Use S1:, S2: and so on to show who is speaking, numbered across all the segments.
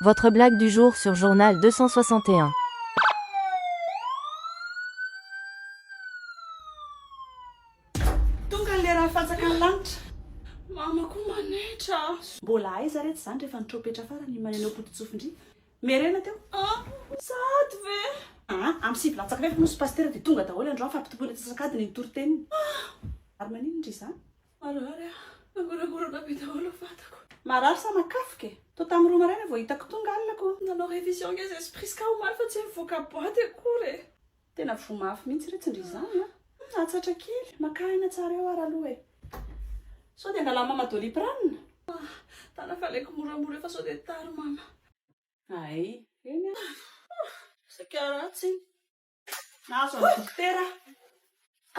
S1: Votre blague du jour sur journal deux cent soixante
S2: et un. Tonga ny lera hahafatsaka ny lanitra. Mama ko manaitra a. Mbola aiza re tsy zany rehefa ny tropetra farany iny maneno potitsofindry merena teo. Ah! Sahady ve? Aa am sivy latsaka fefy moa sy pasitera dia tonga daholo androany fa ampitomboina antsasakadiny ny toriteniny. Ah! Ary maninona ry zany? Marary aho, nangorangorana be daholo ny vatako. Marary sa makafoka e? Toa tamin'ny roa maraina vao hitako tonga alina ko. Nanao révision nge zay spris ka omaly fa tsy nivoaka boite akory e. Tena voa mafy mihitsy re tsy ndry izany a. Nahatsatra kely, makà aina tsara eo ary aloha e. Sao dia angalà mama doliprane? Ah, tana fa alaiko moramora eo fa sao dia tara mama. Hay, eny a. Saika ratsy iny. Nahazo an'i Dokotera aho.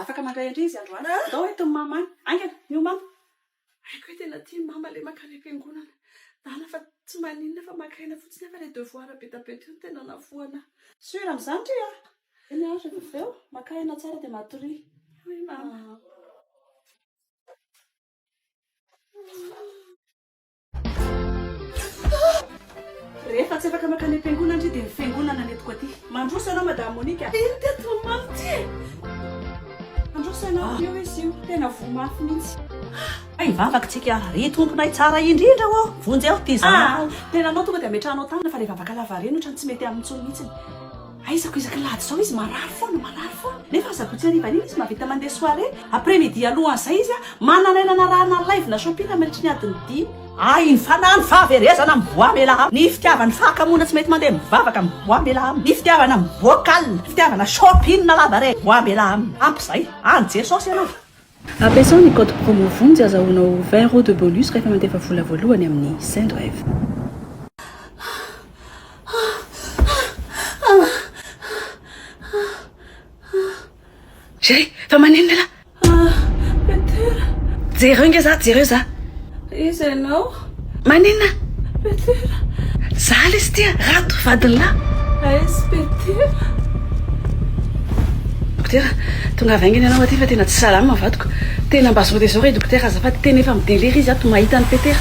S2: Afaka mandray an-dry izy androany. Andao ho entin'i Mama any. Haingana, miomana. Haiko hoe tena tian'i Mama ilay maka any am-piangonana. Dana fa tsy maninona fa maka aina fotsiny aho fa ilay devoir be dia be teo no tena navoana ahy. Sûr amin'izany ry a! Eny ary, rehefa avy eo, maka aina tsara dia matoria. Oui, Mama. Rehefa tsy afaka makany am-piangonana ndry dia ny fiangonana ny entiko aty. Mandroso ianao Madame Monique a. Ino teto no mamy ty e? Mandroso ianao. Io izy io, tena voa mafy mihitsy. Hay hivavaka tsika ary. Ry Tomponay tsara indrindra ô! Vonjeo ty zanakao. Ah! Tenanao tonga dia ametrahanao tamina fa ilay vavaka lavareny otrany tsy mety aminy intsony mihitsiny. Aizako isaky lahady izao izy marary foana marary foana nefa asabotsy harivan'iny izy mahavita mandeha soirée après midi alohan'izay izy a manana aina narahana alaivona shopping mandritry ny adiny dimy Ay ny fanahy ny fahaverezana amin'ny voix mela am ny fitiavana fahakamoana tsy mety mandeha mivavaka amin'ny voix mela am ny fitiavana vocal fitiavana shopping lava re voix mela am ampy izay any jesosy ianao Ampiasao ny
S3: code promo vonjy azahoanao vingt euros de bonus rehefa mandefa vola voalohany amin'ny Sendwave. Jereo fa maninona ialahy. Ah! Petera.
S2: Jereo
S3: nge za, jereo za. Iza ianao?
S2: Maninona?
S3: Petera.
S2: Zalah
S3: izy ity a! Rato vadinlah. Aiz
S2: Petera.
S3: Dokotera, tongava aingana ianao aty fa tena tsy salama ny vadiko. Tena mba zao dia zao re dokotera azafady, tena efa mi-delire izy ato mahita an'i Petera.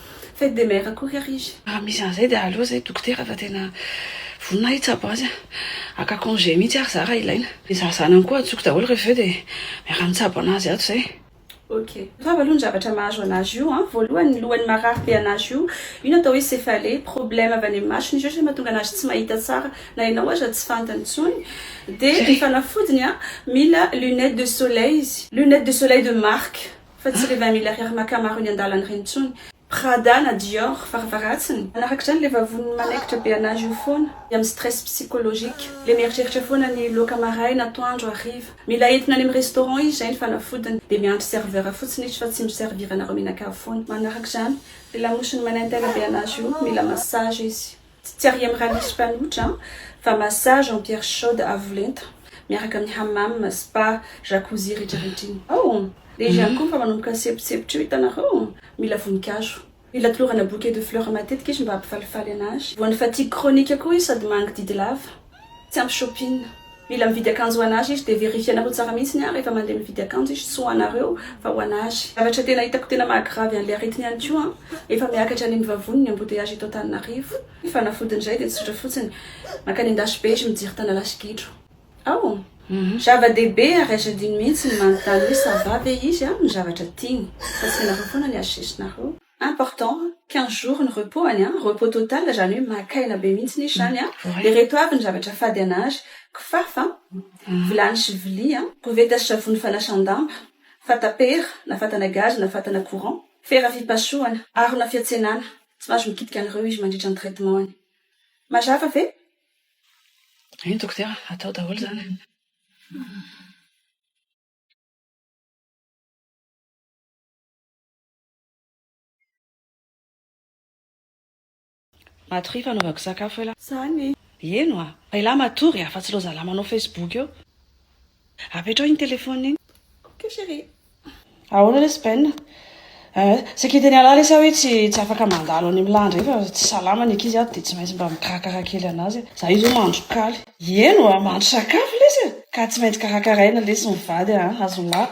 S2: Fête des mères akory ary izy. Raha misy an'izay dia aleo
S3: izay dokotera fa tena vonona aho hitsabo azy an! Haka congé mihitsy ary za raha ilaina. Ny zaza zanany koa antsoiko daholo rehefa avy eo dia miara mitsabo anazy ato izay. Ok.
S2: Grave aloha ny zavatra mahazo anazy io an! Voalohany ny lohany marary be anazy io, io no atao hoe céphalée, problème avy any amin'ny masony izy io izay mahatonga anazy tsy mahita tsara, na ianao aza tsy fantany intsony. Dia ny fanafodiny an! Mila lunettes de soleil izy. Lunettes de soleil de marque Fa tsy le vingt mille ariary maka maro eny andalana ireny intsony. Prada na Dior varavarantsiny. Manarak'izany le vavoniny manaikitra be an'azy io foana dia amin'ny stress psychologique. Le mieritreritra foana ny loaka maraina, atoandro, hariva. Mila entina any amin'ny restaurant izy izay ny fanafodiny. Dia miandry serveur fotsiny izy fa tsy mi servir anareo mihinan-kavy foana. Manarak'izany le lamosiny manaintaina be an'azy io, mila massage izy. Tsy tsy ariam raha misy mpanotra an! Fa massage en pierre chaude avo lenta miaraka amin'ny hammam, spa, jacuzzi rehetra rehetra iny ao! Dia izy ihany koa efa manomboka ny sepotsepotra eo hitanareo! Mila voninkazo. Mila tolorana bouquet de fleurs matetika izy mba hampifalifaly anazy. Voan'ny fatigue chronique koa izy sady mangididy lava. Tsy ampy shopping. Mila mividy akanjo ho an'Azy izy dia verifier-nareo tsara mihitsiny an rehefa mandeha mividy akanjo izy tsy ho anareo fa ho an'Azy. Zavatra tena hitako tena maha grave an'ilay aretina ihany koa an, efa miakatra any amin'ny vavony ny embouteillage eto Antananarivo. Fanafodin'izay dia tsotra fotsiny, mankany an-dasy be izy mijery tanalahy sy gidro ao. Zava-dehibe ary azo adino mihitsy ny manontany hoe ça va ve izy amin'ny zavatra tiany fa tsy ianareo foana ny azo sesinareo. important quinze jours ny repos any an, repos total izany hoe maka aina be mihitsy izy izany an, dia ireto avy ny zavatra fady an'ary, kifafa, vilany sy vilia, koveta sy savony fanasan-damba, fatapera na fatana gazy na fatana courant, fera fipasohana, harona fiantsenana, tsy mahazo mikitika an'ireo izy mandritra ny traitement-ny. Mazava ve?
S3: Eny dokotera, atao daholo izany. Matoria fanaovako sakafo elah. Zany e. Heno
S2: a! Fa
S3: elah matory a! Fa tsy ireo zalah manao facebook eo. Apetraho iny telephone iny. Ok chérie.
S2: Ahoana
S3: lesy Ben? Eh, sekiten'i Allah lesy aho hoe tsy tsy afaka mandalo any amin'ny lahy indray fa tsy salama ny ankizy ato dia tsy maintsy mba mikarakara kely an'azy aho. Za izao mahandro kaly. Heno a! Mahandro sakafo lesy e! Ka tsy maintsy karakaraina lesy ny vady a! Azon'lah.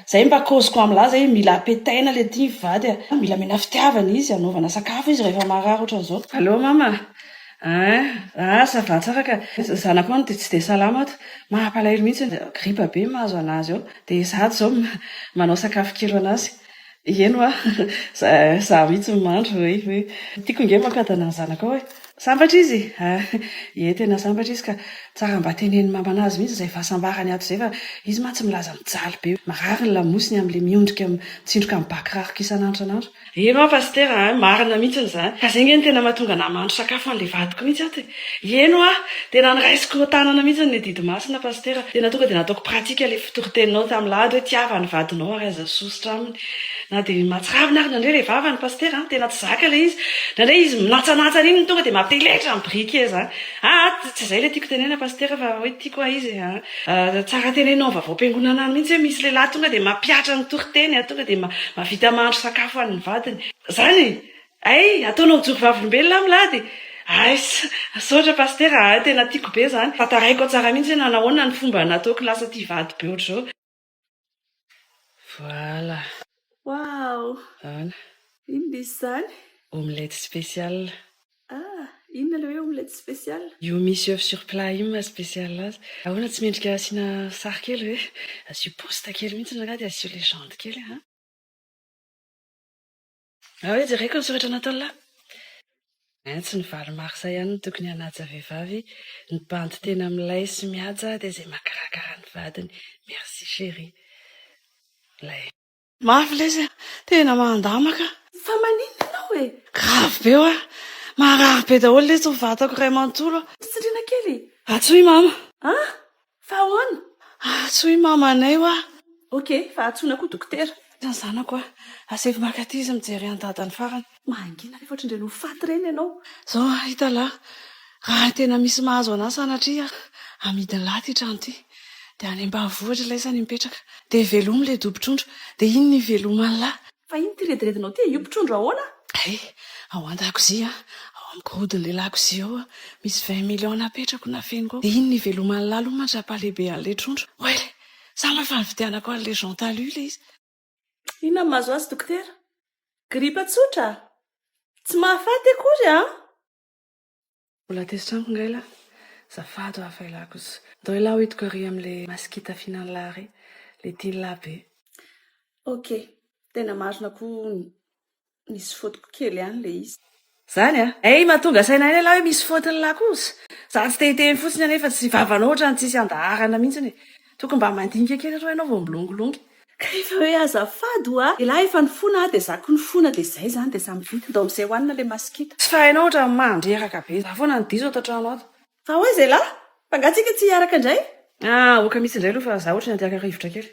S3: Zay mba cause ko amla zay mila apetaina le ty mivady a! Mila amena fitiavana izy, anaovana sakafo izy rehefa marary otrany zao. Allô mama ah ah ça va tsara ka, zanako any dia tsy dia salama ato, mampalahelo mihitsy ny gripa be mahazo anazy ao, dia izato izao manao sakafo kilo anazy, ieny hoa za mihitsy no mandro, tiako nge mankatona ny zanakao e. Sambatra izy a! Ie tena sambatra izy ka! Tsara mba teneno maman azy mihitsy izay fahasambarany ato izay fa izy mantsy milaza mijaly be hoe marary ny lamosiny amin'ilay miondrika mitsindroka amin'ny bac rariko isan'andro isan'andro. Eny hoa Pasitera a! Marina mihitsiny izany ka izay ange no tena mahatonga anah mahandro sakafo ho an'ilay vadiko mihitsy ato e! Eny hoa! Tena noraisiko tanana mihitsy ny adidy masina Pasitera! Tena tonga dia nataoko pratika ilay toriteninao tamin'ilay ady hoe tiava ny vadinao ary aza sosotra aminy. Na dia mahatsiravina ary nandre ilay vava ny pasitera an, tena tsy zaka ilay izy. Indraindray izy minatsanatsa an'iny no tonga dia mampiheletra ny briquet izany. Ah ah, tsy izay ilay tiako tenenina pasitera fa hoe tiako ah izy ah. Ah, tsara tenenina ao amin'ny vaovao-piangonana any mihitsy hoe misy lehilahy tonga dia mampihatra ny toriteny ah, tonga dia mahavita mahandro sakafo an'ny vadiny. Izany e! Hay, ataonao joky vavolombelona aho milady. Hay, misaotra pasitera ah, tena tiako be izany. Tantaraiko tsara mihitsy hoe nanahoana ny fomba nataoko lasa tia vady be ohatr'izao. Voilà. Waouh.
S2: Voilà. Inona izy izany? Omelette spécial.
S3: Ah,
S2: inona ilay hoe omelette spécial? Io misy œuf sur
S3: plat io maha spécial azy. Ahoana tsy mendrika asiana sary kely ve? Asio post kely mihitsy ny angaha dia asio legende kely an. Ao e, jereko ny soratra nataon'i la. Ein, tsy ny valo marsa ihany no tokony hanaja vehivavy, ny bandy tena milay sy mihaja dia izay mahakarakara ny vadiny. Merci chérie. Lay. Mafy lesy a! Tena mandama ka! Fa maninona
S2: ianao e? Grave be hoa!
S3: Marary be daholo lesy ny vatako iray manontolo a! Mpisintrinakely e!
S2: Atsoy mama!
S3: An! Fa
S2: ahoana? Antsoy
S3: mamanay hoa. Ok, fa
S2: antsoina koa dokotera. Ny zanako hoa.
S3: Asaivo maka aty izy mijery an'i dadany farany. Mangina rehefa ohatran'ireny
S2: ho faty ireny ianao. Zao an, hitalahy,
S3: raha tena misy mahazo an'ahy sanatria amidin'lah ity trano ity, dia any ambanivohitra ilay izy any mipetraka, dia velomy ilay dobo-trondro, dia iny ny hiveloman'lah. Fa ino ity rediredinao
S2: ity? Io mpitrondro ahoana? Hay, ao
S3: an-dakozia, ao amin'ny gorodon'ilay lakozia ao, misy vingt millions napetrako nafeniko ao. Dia iny niveloman'i Lalo mandra-pahalehibe an'ilay trondro. Oay! Sa lay efa nividianako an'ilay Jean Talus ilay izy? Inona no
S2: mahazo azy dokotera? Gripa tsotra? Tsy mahafaty akory an!
S3: Mbola tezitra amiko ngah ilah? Zafady hoa fa ilah kosa. Ndao ilah hoidiko ary amle masikita fihinan'ilah re, le tian'ilah be. Ok,
S2: tena marina koa misy faute-ko kely ihany le izy. Zany a! Hay
S3: mahatonga saina aina ilah hoe misy faute-n'ilah kosa. Za tsy te hiteny fotsiny anefa tsy vavanao ohatran'ny tsisy andaharana mihitsiny e! Tokony mba mandinika kely aloha ianao vao milongilongy. Ka rehefa hoe
S2: azafady oa elah efa nifona ah de za ko nifona de zay zany de samy vita dao amzay hoanina le masikita. Tsy fahainao otrany
S3: mandreraka be. Za foana no diso ato an-trano ato. Fa ahoy zay lahy?
S2: Fa nga tsika tsy hiaraka indray? Ah oka mitsy
S3: indray aloha fa za otrany antiaka rivotra kely.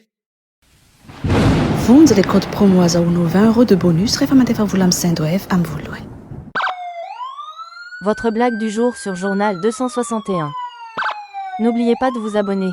S3: Vonjy
S4: le code promo azahoanao vingt euros de bonus rehefa mandefa vola am Sendwave am voalohany.
S1: Votre blague du jour sur journal deux cent soixante et un N'oubliez pas de vous abonner.